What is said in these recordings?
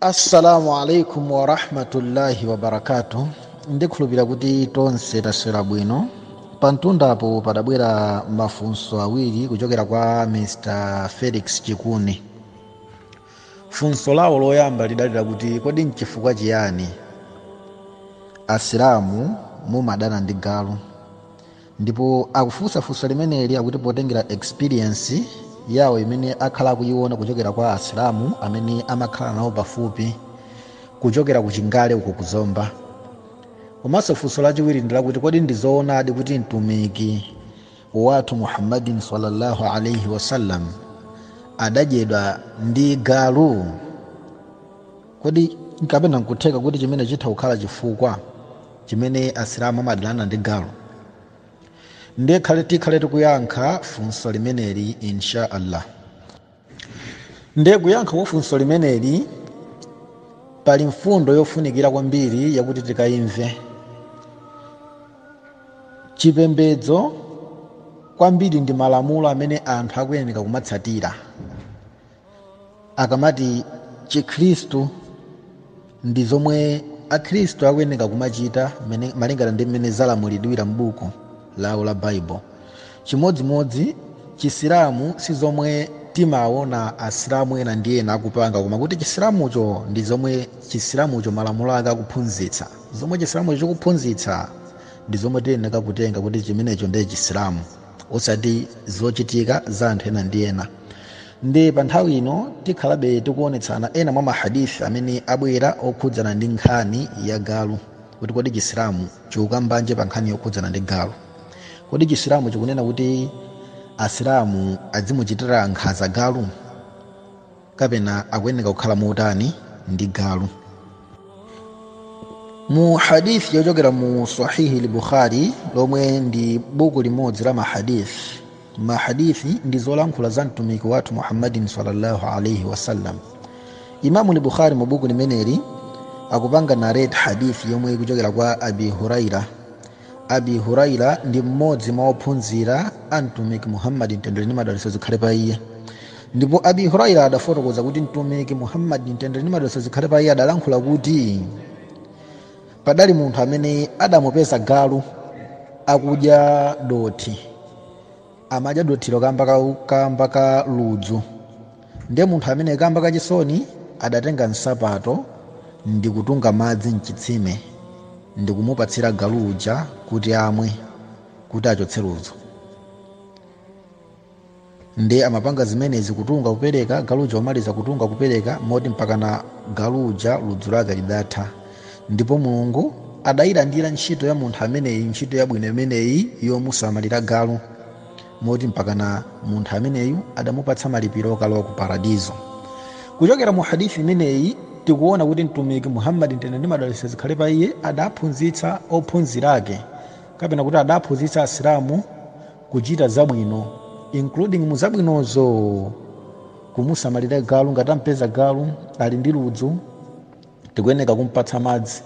assalamu alaikum warahmatullahi wabarakatu ndikhulupira kuti tonse taswera bwino pamtundapo padabwera mafunso awiri kuchokera kwa mr felix chikuni funso lawo loyamba lidali lakuti kodi nchifukwa chiyani asilamu mumadana ndi galu Ndipo akufunsa funso limeneli akuti potengera experience yawo imene akhala akuiona kuchokera kwa asilamu amene amakhala nawo pafupi kuchokera ku Chingale uko ku Zomba. Komanso funso lachiwiri ndi lakuti kodi ndi zoonadi kuti mtumiki wathu Muhammadin sallallahu alaihi wasallam adadyedwa ndi galu? kodi nkapena nkutheka kuti chimene chitha kukhala chifukwa chimene asilamu amadanirana ndi galu ndiye tikhale tikuyankha funso limeneli insha allah ndiye kuyankha kwa funso limeneli pali mfundo yofunikira kwambiri yakuti tikayimve chipembedzo kwambiri ndi malamulo amene anthu akuyeneka kumatsatira akamati chikhristu ndi zomwe akhristu akuyeneka kumachita malingana ndi mmene zalamulidwira m'buku lawo la baibulo chimodzimodzi chisilamu si zomwe timaona asilamu ena ndi ena akupanga koma kuti chisilamucho ndi zomwe chisilamucho malamulo ake akuphunzitsa zomwe chisilamucho chikuphunzitsa ndi zomwe tiyeneka kutenga kuti chimenecho ndiye chisilamu osati zochitika za anthu ena ndi ena ndi pa nthawi ino tikhalabe tikuonetsana ena mwa mahadith amene abwera okhudzana ndi nkhani ya galu kuti kodi chisilamu chikukambanji pa nkhani yokhudzana ndi galu kodi chisilamu chikunena kuti asilamu adzimuchitira nkhanza galu kapena akuyeneka kukhala motani ndi galu mu hadith yochokera mu sahihi lbukhari lomwe ndi buku limodzi la mahadith mahadithi ndi zolankhula za mtumiki wathu muhammadin sallallahu alaihi wasallam imamu lbukhari mu buku limeneli akupanga narate hadith yomwe ikuchokera kwa abi huraira abi huraira ndi mmodzi mwa ophunzira a mtumiki muhammadi mtendere ndi madalitso zikhale pa iye ndipo abi huraira adafotokoza kuti mtumiki muhammadi mtendere ndi madalitso zikhale pa iye adalankhula kuti padali munthu amene adamupeza galu akudya dothi amadya dothilo kamba ka ludzu Ndiye munthu ameneyu kamba ka chisoni adatenga nsapato ndikutunga madzi m'chitsime ndikumupatsira galu uja kuti amwe kuti achotse ludzu. Ndiye amapanga zimenezi kutunga kupereka, galu uja omaliza kutunga kupereka moti mpakana galu uja ludzu lake lidatha. Ndipo Mulungu adayilandira ntchito ya munthu ameneyu, ntchito yabwino imeneyi yomusamalira galu. moti mpakana munthu ameneyu adamupatsa malipiro okalowa ku paradizo kuchokera mu hadithi imeneyi tikuona kuti mtumiki muhammadi mtendere ndi madalitso zikhale pa iye adaphunzitsa ophunzira ake kapena kuti adaphunzitsa asilamu kuchita zabwino including mu zabwinozo kumusamalira galu ngati tampeza galu ali ndi ludzu Tikuyeneka kumpatsa madzi.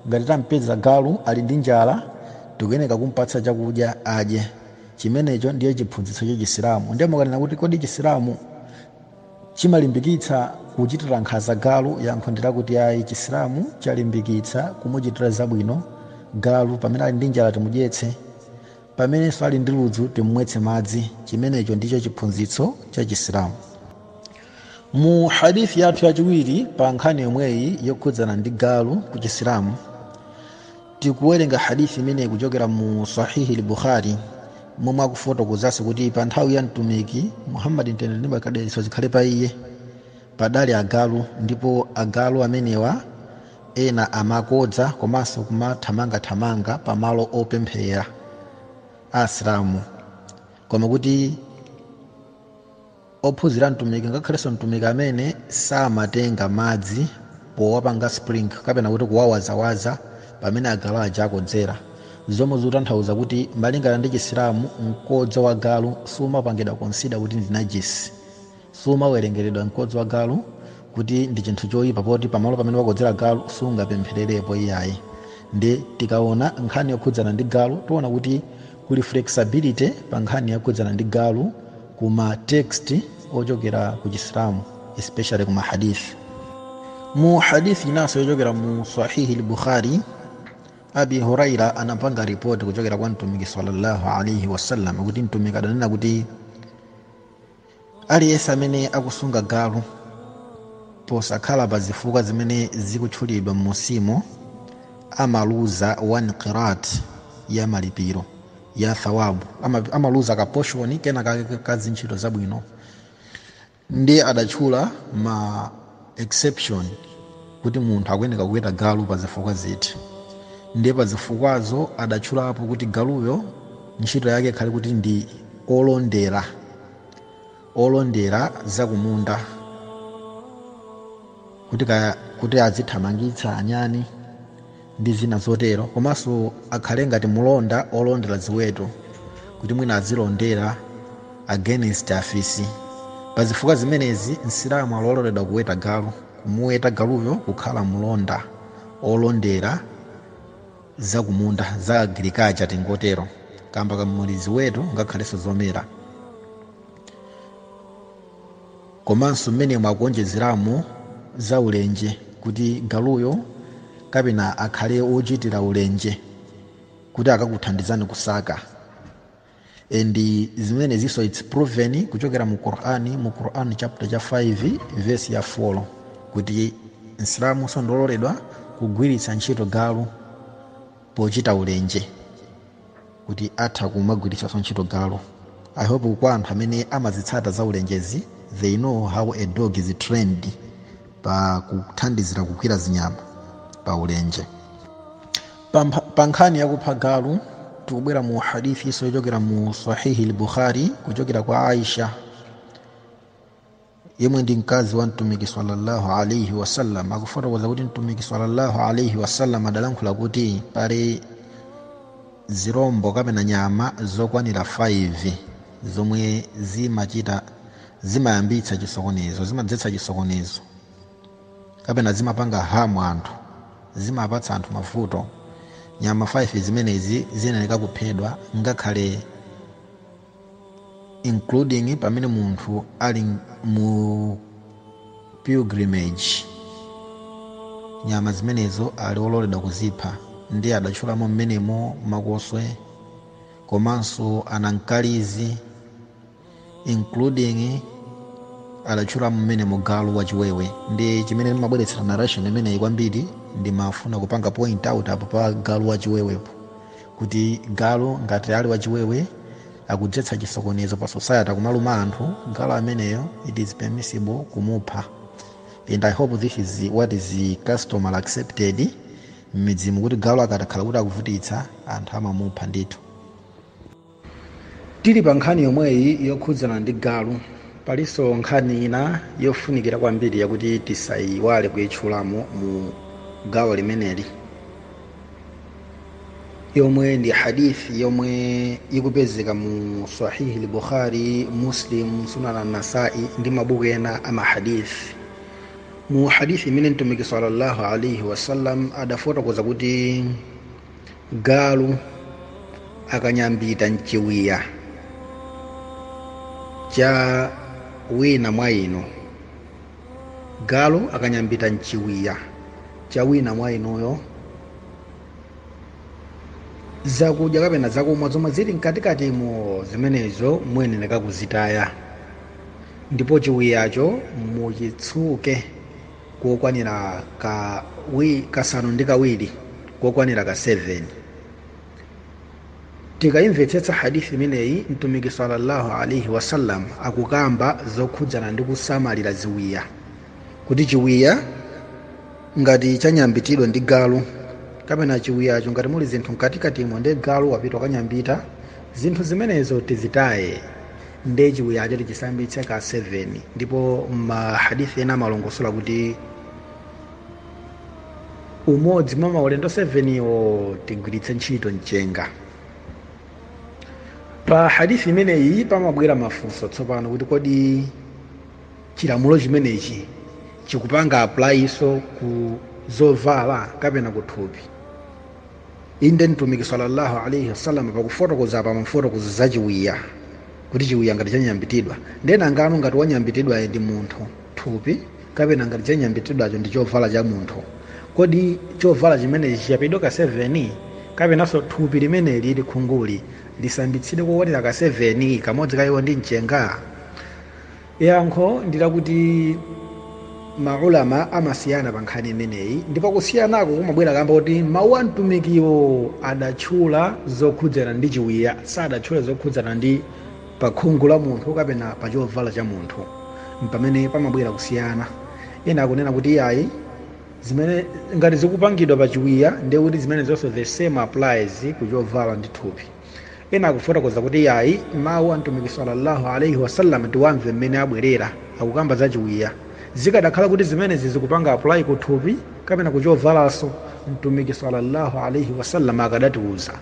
Ngati tampeza galu ali ndi njala, tikuyeneka kumpatsa chakudya adye. Chimenecho ndiye chiphunzitso cha Chisilamu. Ndiye mukanena kuti kodi Chisilamu chimalimbikitsa kuchitira nkhanza galu? Yankho ndi lakuti ayi. Chisilamu chalimbikitsa kumuchitira zabwino galu. Pamene ali ndi njala timudyetse. Pamenenso ali ndi ludzu timmwetse madzi. Chimenecho ndicho chiphunzitso cha Chisilamu. mu hadith yathu yachiwiri pa nkhani yomweyi yokhudzana ndi galu ku chisilamu tikuwerenga hadith imeneyi kuchokera mu sahihi lbukhari momwe akufotokozanso kuti pa nthawi ya mtumiki muhammadi mtendere ndi madalitso zikhale pa iye padali agalu ndipo agalu amenewa ena amakodza komanso kumathamangathamanga pa malo opemphera asilamu koma kuti ophunzira mtumiki ngakhalenso mtumiki amene samatenga madzi powapanga sprinkle kapena kuti kuwawazawaza pamene agalu aja akodzera zomwe zikutanthauza kuti malingana ndi chisilamu mkodzo wa galu sumapangidwa consider kuti ndi najis sumawerengeredwa mkodzo wa galu kuti ndi chinthu choyipa poti pamalo pamene wakodzera galu sungapemphererepo iyayi ndi tikaona nkhani yokhudzana ndi galu tiona kuti kuli flexibility pa nkhani yokhudzana ndi galu ku ma text ochokera ku chisilamu especially ku ma hadith mu hadith inanso yochokera mu sahihi lbukhari abi huraira anapanga ripoti kuchokera kwa mtumiki sallallahu alaihi wasallam kuti mtumiki adanena kuti aliyense amene akusunga galu posakhala pa zifukwa zimene zikutchulidwa m'munsimu amaluza 1 qirat ya malipiro ya thawabu ama- amaluza ka portion kena kake ka zintchito zabwino ndiye adatchula ma exception kuti munthu akuyeneka kuweta galu pa zifukwa ziti ndiye pa zifukwazo adatchulapo kuti galuyo ntchito yake ikhale kuti ndi olondera olondera zakumunda kuti, ka, kuti azithamangitsa anyani ndi zina zotero komanso akhale ngati mulonda olondera ziweto kuti mwina azilondera against afisi pa zifukwa zimenezi msilamu ali ololedwa kuweta galu kumuweta galuyo kukhala mulonda olondera zakumunda za agriculture tingotero kaya mwamuli ziweto ngakhalenso zomera komanso mmenemo akuonjezeramo za ulenje kuti galuyo kapena akhale wochitira ulenje kuti akakuthandizani kusaka and zimenezinso its proven kuchokera mu Quran mu Quran chapter cha 5 verse ya 4 kuti msilamu nso ndi ololedwa kugwiritsa ntchito galu pochita ulenje kuti atha kumagwiritsanso ntchito galu i hope kwa anthu amene amazitsata za ulenjezi they know how a dog is trained pa kuthandizira kugwira zinyama pa ulenje Pampha- pa nkhani yakupha galu tikubwera mu hadithi inso yochokera mu sahihi lbukhari kuchokera kwa aisha yemwe ndi mkazi wa mtumiki sallallahu alaihi wasallam akufotokoza kuti mtumiki sallallahu alaihi wasallam adalankhula kuti pali zirombo kapena nyama zokwanira 5 zomwe zimachita zimayambitsa chisokonezo zimadzetsa chisokonezo kapena zimapanga harm anthu zimapatsa anthu mavuto nyama 5 zimenezi ziyenera kuphedwa ngakhale including pamene munthu ali mu pilgrimage nyama zimenezo ali ololedwa kuzipha ndiye adatchulamo mmenemo makoswe komanso anankalizi including adatchulamo mmenemo galu wachiwewe ndi chimene ndimabweretsera narration imeneyi kwambiri ndimafuna kupanga point out apo pa galu wachiwewepo kuti galu ngati ali wachiwewe akudzetsa chisokonezo pa society akumaluma anthu galu ameneyo it is permissible kumupha and i hope this is what is customary accepted m'midzimu kuti galu akatakhala kuti akuvutitsa anthu amamupha ndithu tili pa nkhani yomweyi yokhudzana ndi galu palinso nkhani ina yofunikira kwambiri yakuti tisayiwale kuyitchulamo mu gawo limeneli yomwe ndi hadith yomwe ikupezeka mu sahihi lbukhari muslim sunan anasai ndi mabuku ena a mahadith mu hadith imene mtumiki sallallahu alaihi wasallam adafotokoza kuti galu akanyambita mchiwiya cha wina mwa inu galu akanyambita mchiwiya cha wina mwa inuyo zakudya kapena zakumwa zomwe zili mkatikatimo zimenezo muyenereka kuzitaya ndipo chiwiyacho muchitsuke kokwanira kasanu ndi kawiri kokwanira ka 7 tikayimvetsetsa hadithi imeneyi mtumiki sallallahu alaihi wasallam akukamba zokhudzana ndi kusamalira ziwiya kuti chiwiya ngati chanyambitidwa ndi galu kapena chiwiyacho ngati muli zinthu mkatikatimo nde galu wapita kukanyambita zinthu zimenezo tizitaye nde chiwiyacho tichisambitse ka 7 ndipo mahadithi ena amalongosola kuti umodzi mwa maulendo 7-wo tigwiritse ntchito mchenga pa hadithi imeneyi pamabwera mafunso tsopano kuti kodi chilamulo chimenechi chikupanga apply-nso ku zovala kapena ku thupi inde mtumiki sallallahu alaihi wasallam pakufotokoza apa amafotokoza za chiwiya kuti chiwiya ngati chanyambitidwa nde nangano ngati wanyambitidwayo ndi munthu thupi kapena ngati chanyambitidwacho ndi chovala cha munthu kodi chovala chimenechi chichapidwe ka 7 kapenanso thupi limeneli khunguli lisambitsidwe kokwanira ka 7 kamodzi kaiko ndi mchenga Yankho ndi lakuti ma Ulama amasiyana pa nkhani imeneyi ndipo kusiyanako kumabwera kamba koti mawu a Mtumikiwo adatchula zokhudzana ndi chiwiya, sadatchula zokhudzana ndi pa khungu la munthu kapena pa chovala cha munthu. Mpamene pamabwera kusiyana. Ena akunena kuti iyayi, zimene, ngati zikupangidwa pa chiwiya ndiye kuti zimenezonso the same applies ku chovala ndi thupi. ena akufotokoza kuti yayi mawu a mtumiki sallallahu alaihi wasallam tiwamve mmene abwerera akukamba za chiwiya zikadakhala kuti zimenezi zikupanga apply ku thupi kapena ku chovalanso mtumiki sallallahu alaihi wasallam akadatiuza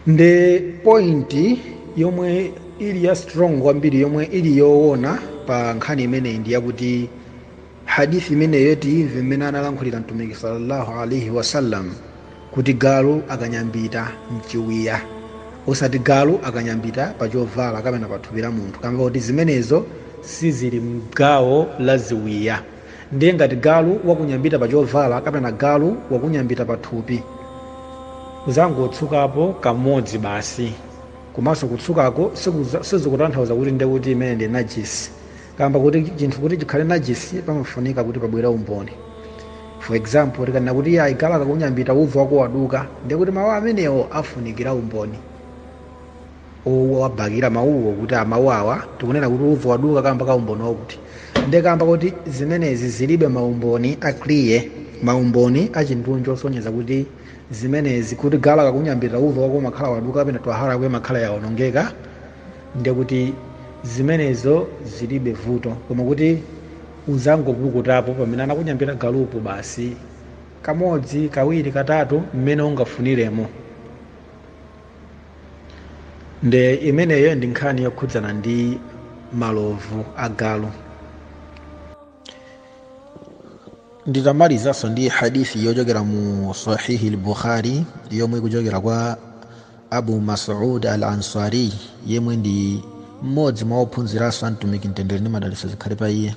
nde pointi yomwe ili ya strong kwambiri yomwe ili yoona pa nkhani imeneyi ndi yakuti Hadith imeneyo tiimve mmene analankhulira Mtumiki salla Allah alaih wasallam kuti galu akanyambita mchiwiya osati galu akanyambita pa chovala kapena pa thupi la munthu kamba kuti zimenezo sizili mgawo la ziwiya ndiye ngati galu wakunyambita pa chovala kapena galu wakunyambita pa thupi uzangotsukapo kamodzi basi komanso kutsukako sizikutanthauza kuti nde kuti imeneyo ndi najisi kamba kuti chinthu kuti chikhale najisi pamafunika kuti pabwere umboni for example tikanena kuti iyayi galu akakunyambita udhu wako waduka ndiye kuti mawu amenewo afunikira umboni wobakira mawuwo kuti mawu awa tikunena kuti udhu waduka kamba ka umboni wakuti ndiye kamba kuti zimenezi zilibe maumboni akiliya maumboni achindunji osonyeza kuti zimenezi kuti galu akakunyambita udhu wako umakhala waduka kapena twahara yako imakhala yaonongeka ndiye kuti zimenezo zilibe vuto koma kuti uzangopukutapo pamene anakunyambita galupo basi kamodzi kawiri katatu mmene ungafuniremo nde imeneyo ndi nkhani yokhudzana ndi malovu a galu nditamalizanso ndi hadithi yochokera mu sahihi al bukhari yomwe ikuchokera kwa abu masud al ansari yemwe ndi mmodzi mwa ophunziranso a mtumiki mtendere ndi madalitso zikhale pa iye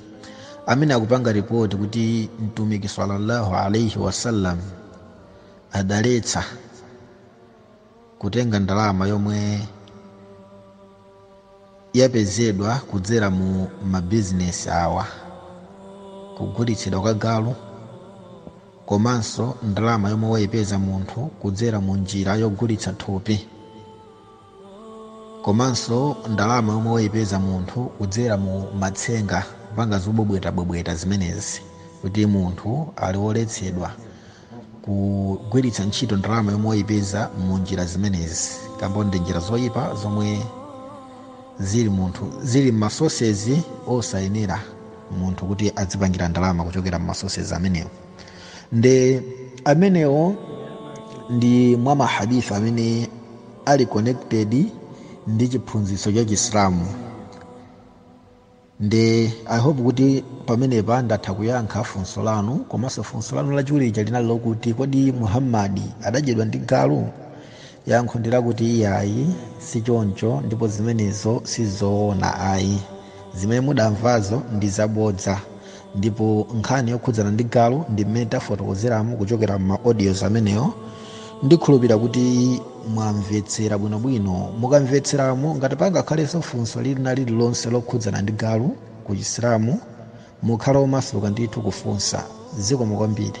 amene akupanga ripoti kuti mtumiki sallallahu alaihi wasallam adaletsa kutenga ndalama yomwe yapezedwa kudzera mu mabizinesi awa kugulitsidwa kwa galu komanso ndalama yomwe wayipeza munthu kudzera mu njira yogulitsa thupi komanso ndalama yomwe wayipeza munthu kudzera mu matsenga kupanga zobwebwetabwebweta zimenezi kuti munthu ali woletsedwa kugwiritsa ntchito ndalama yomwe wayipeza mu njira zimenezi kamba ndi njira zoyipa zomwe zili munthu zili mmasosezi osayenera munthu kuti adzipangira ndalama kuchokera mmasosezi amenewo nde amenewo ndi mwa mahadithi amene ali connected ndi chiphunzitso cha chisilamu Nde I hope kuti pamenepa ndatha kuyankha funso lanu, komanso funso lanu lachiwiri lija linali lokuti kodi Muhammad adadyedwa ndi galu? Yankho ndi lakuti iyayi sichoncho ndipo zimenezo sizoona ayi. Zimene mudamvazo ndi zabodza. Ndipo nkhani yokhudzana ndi galu ndi mmene tafotokozeramo kuchokera mma audios amenewo, ndikhulupira kuti mwamvetsera bwinobwino. Mukamvetseramo, ngati pangakhalenso funso lina lililonse lokhudzana ndi galu ku Chisilamu, mukhale omasuka ndithu kufunsa. Zikomo kwambiri.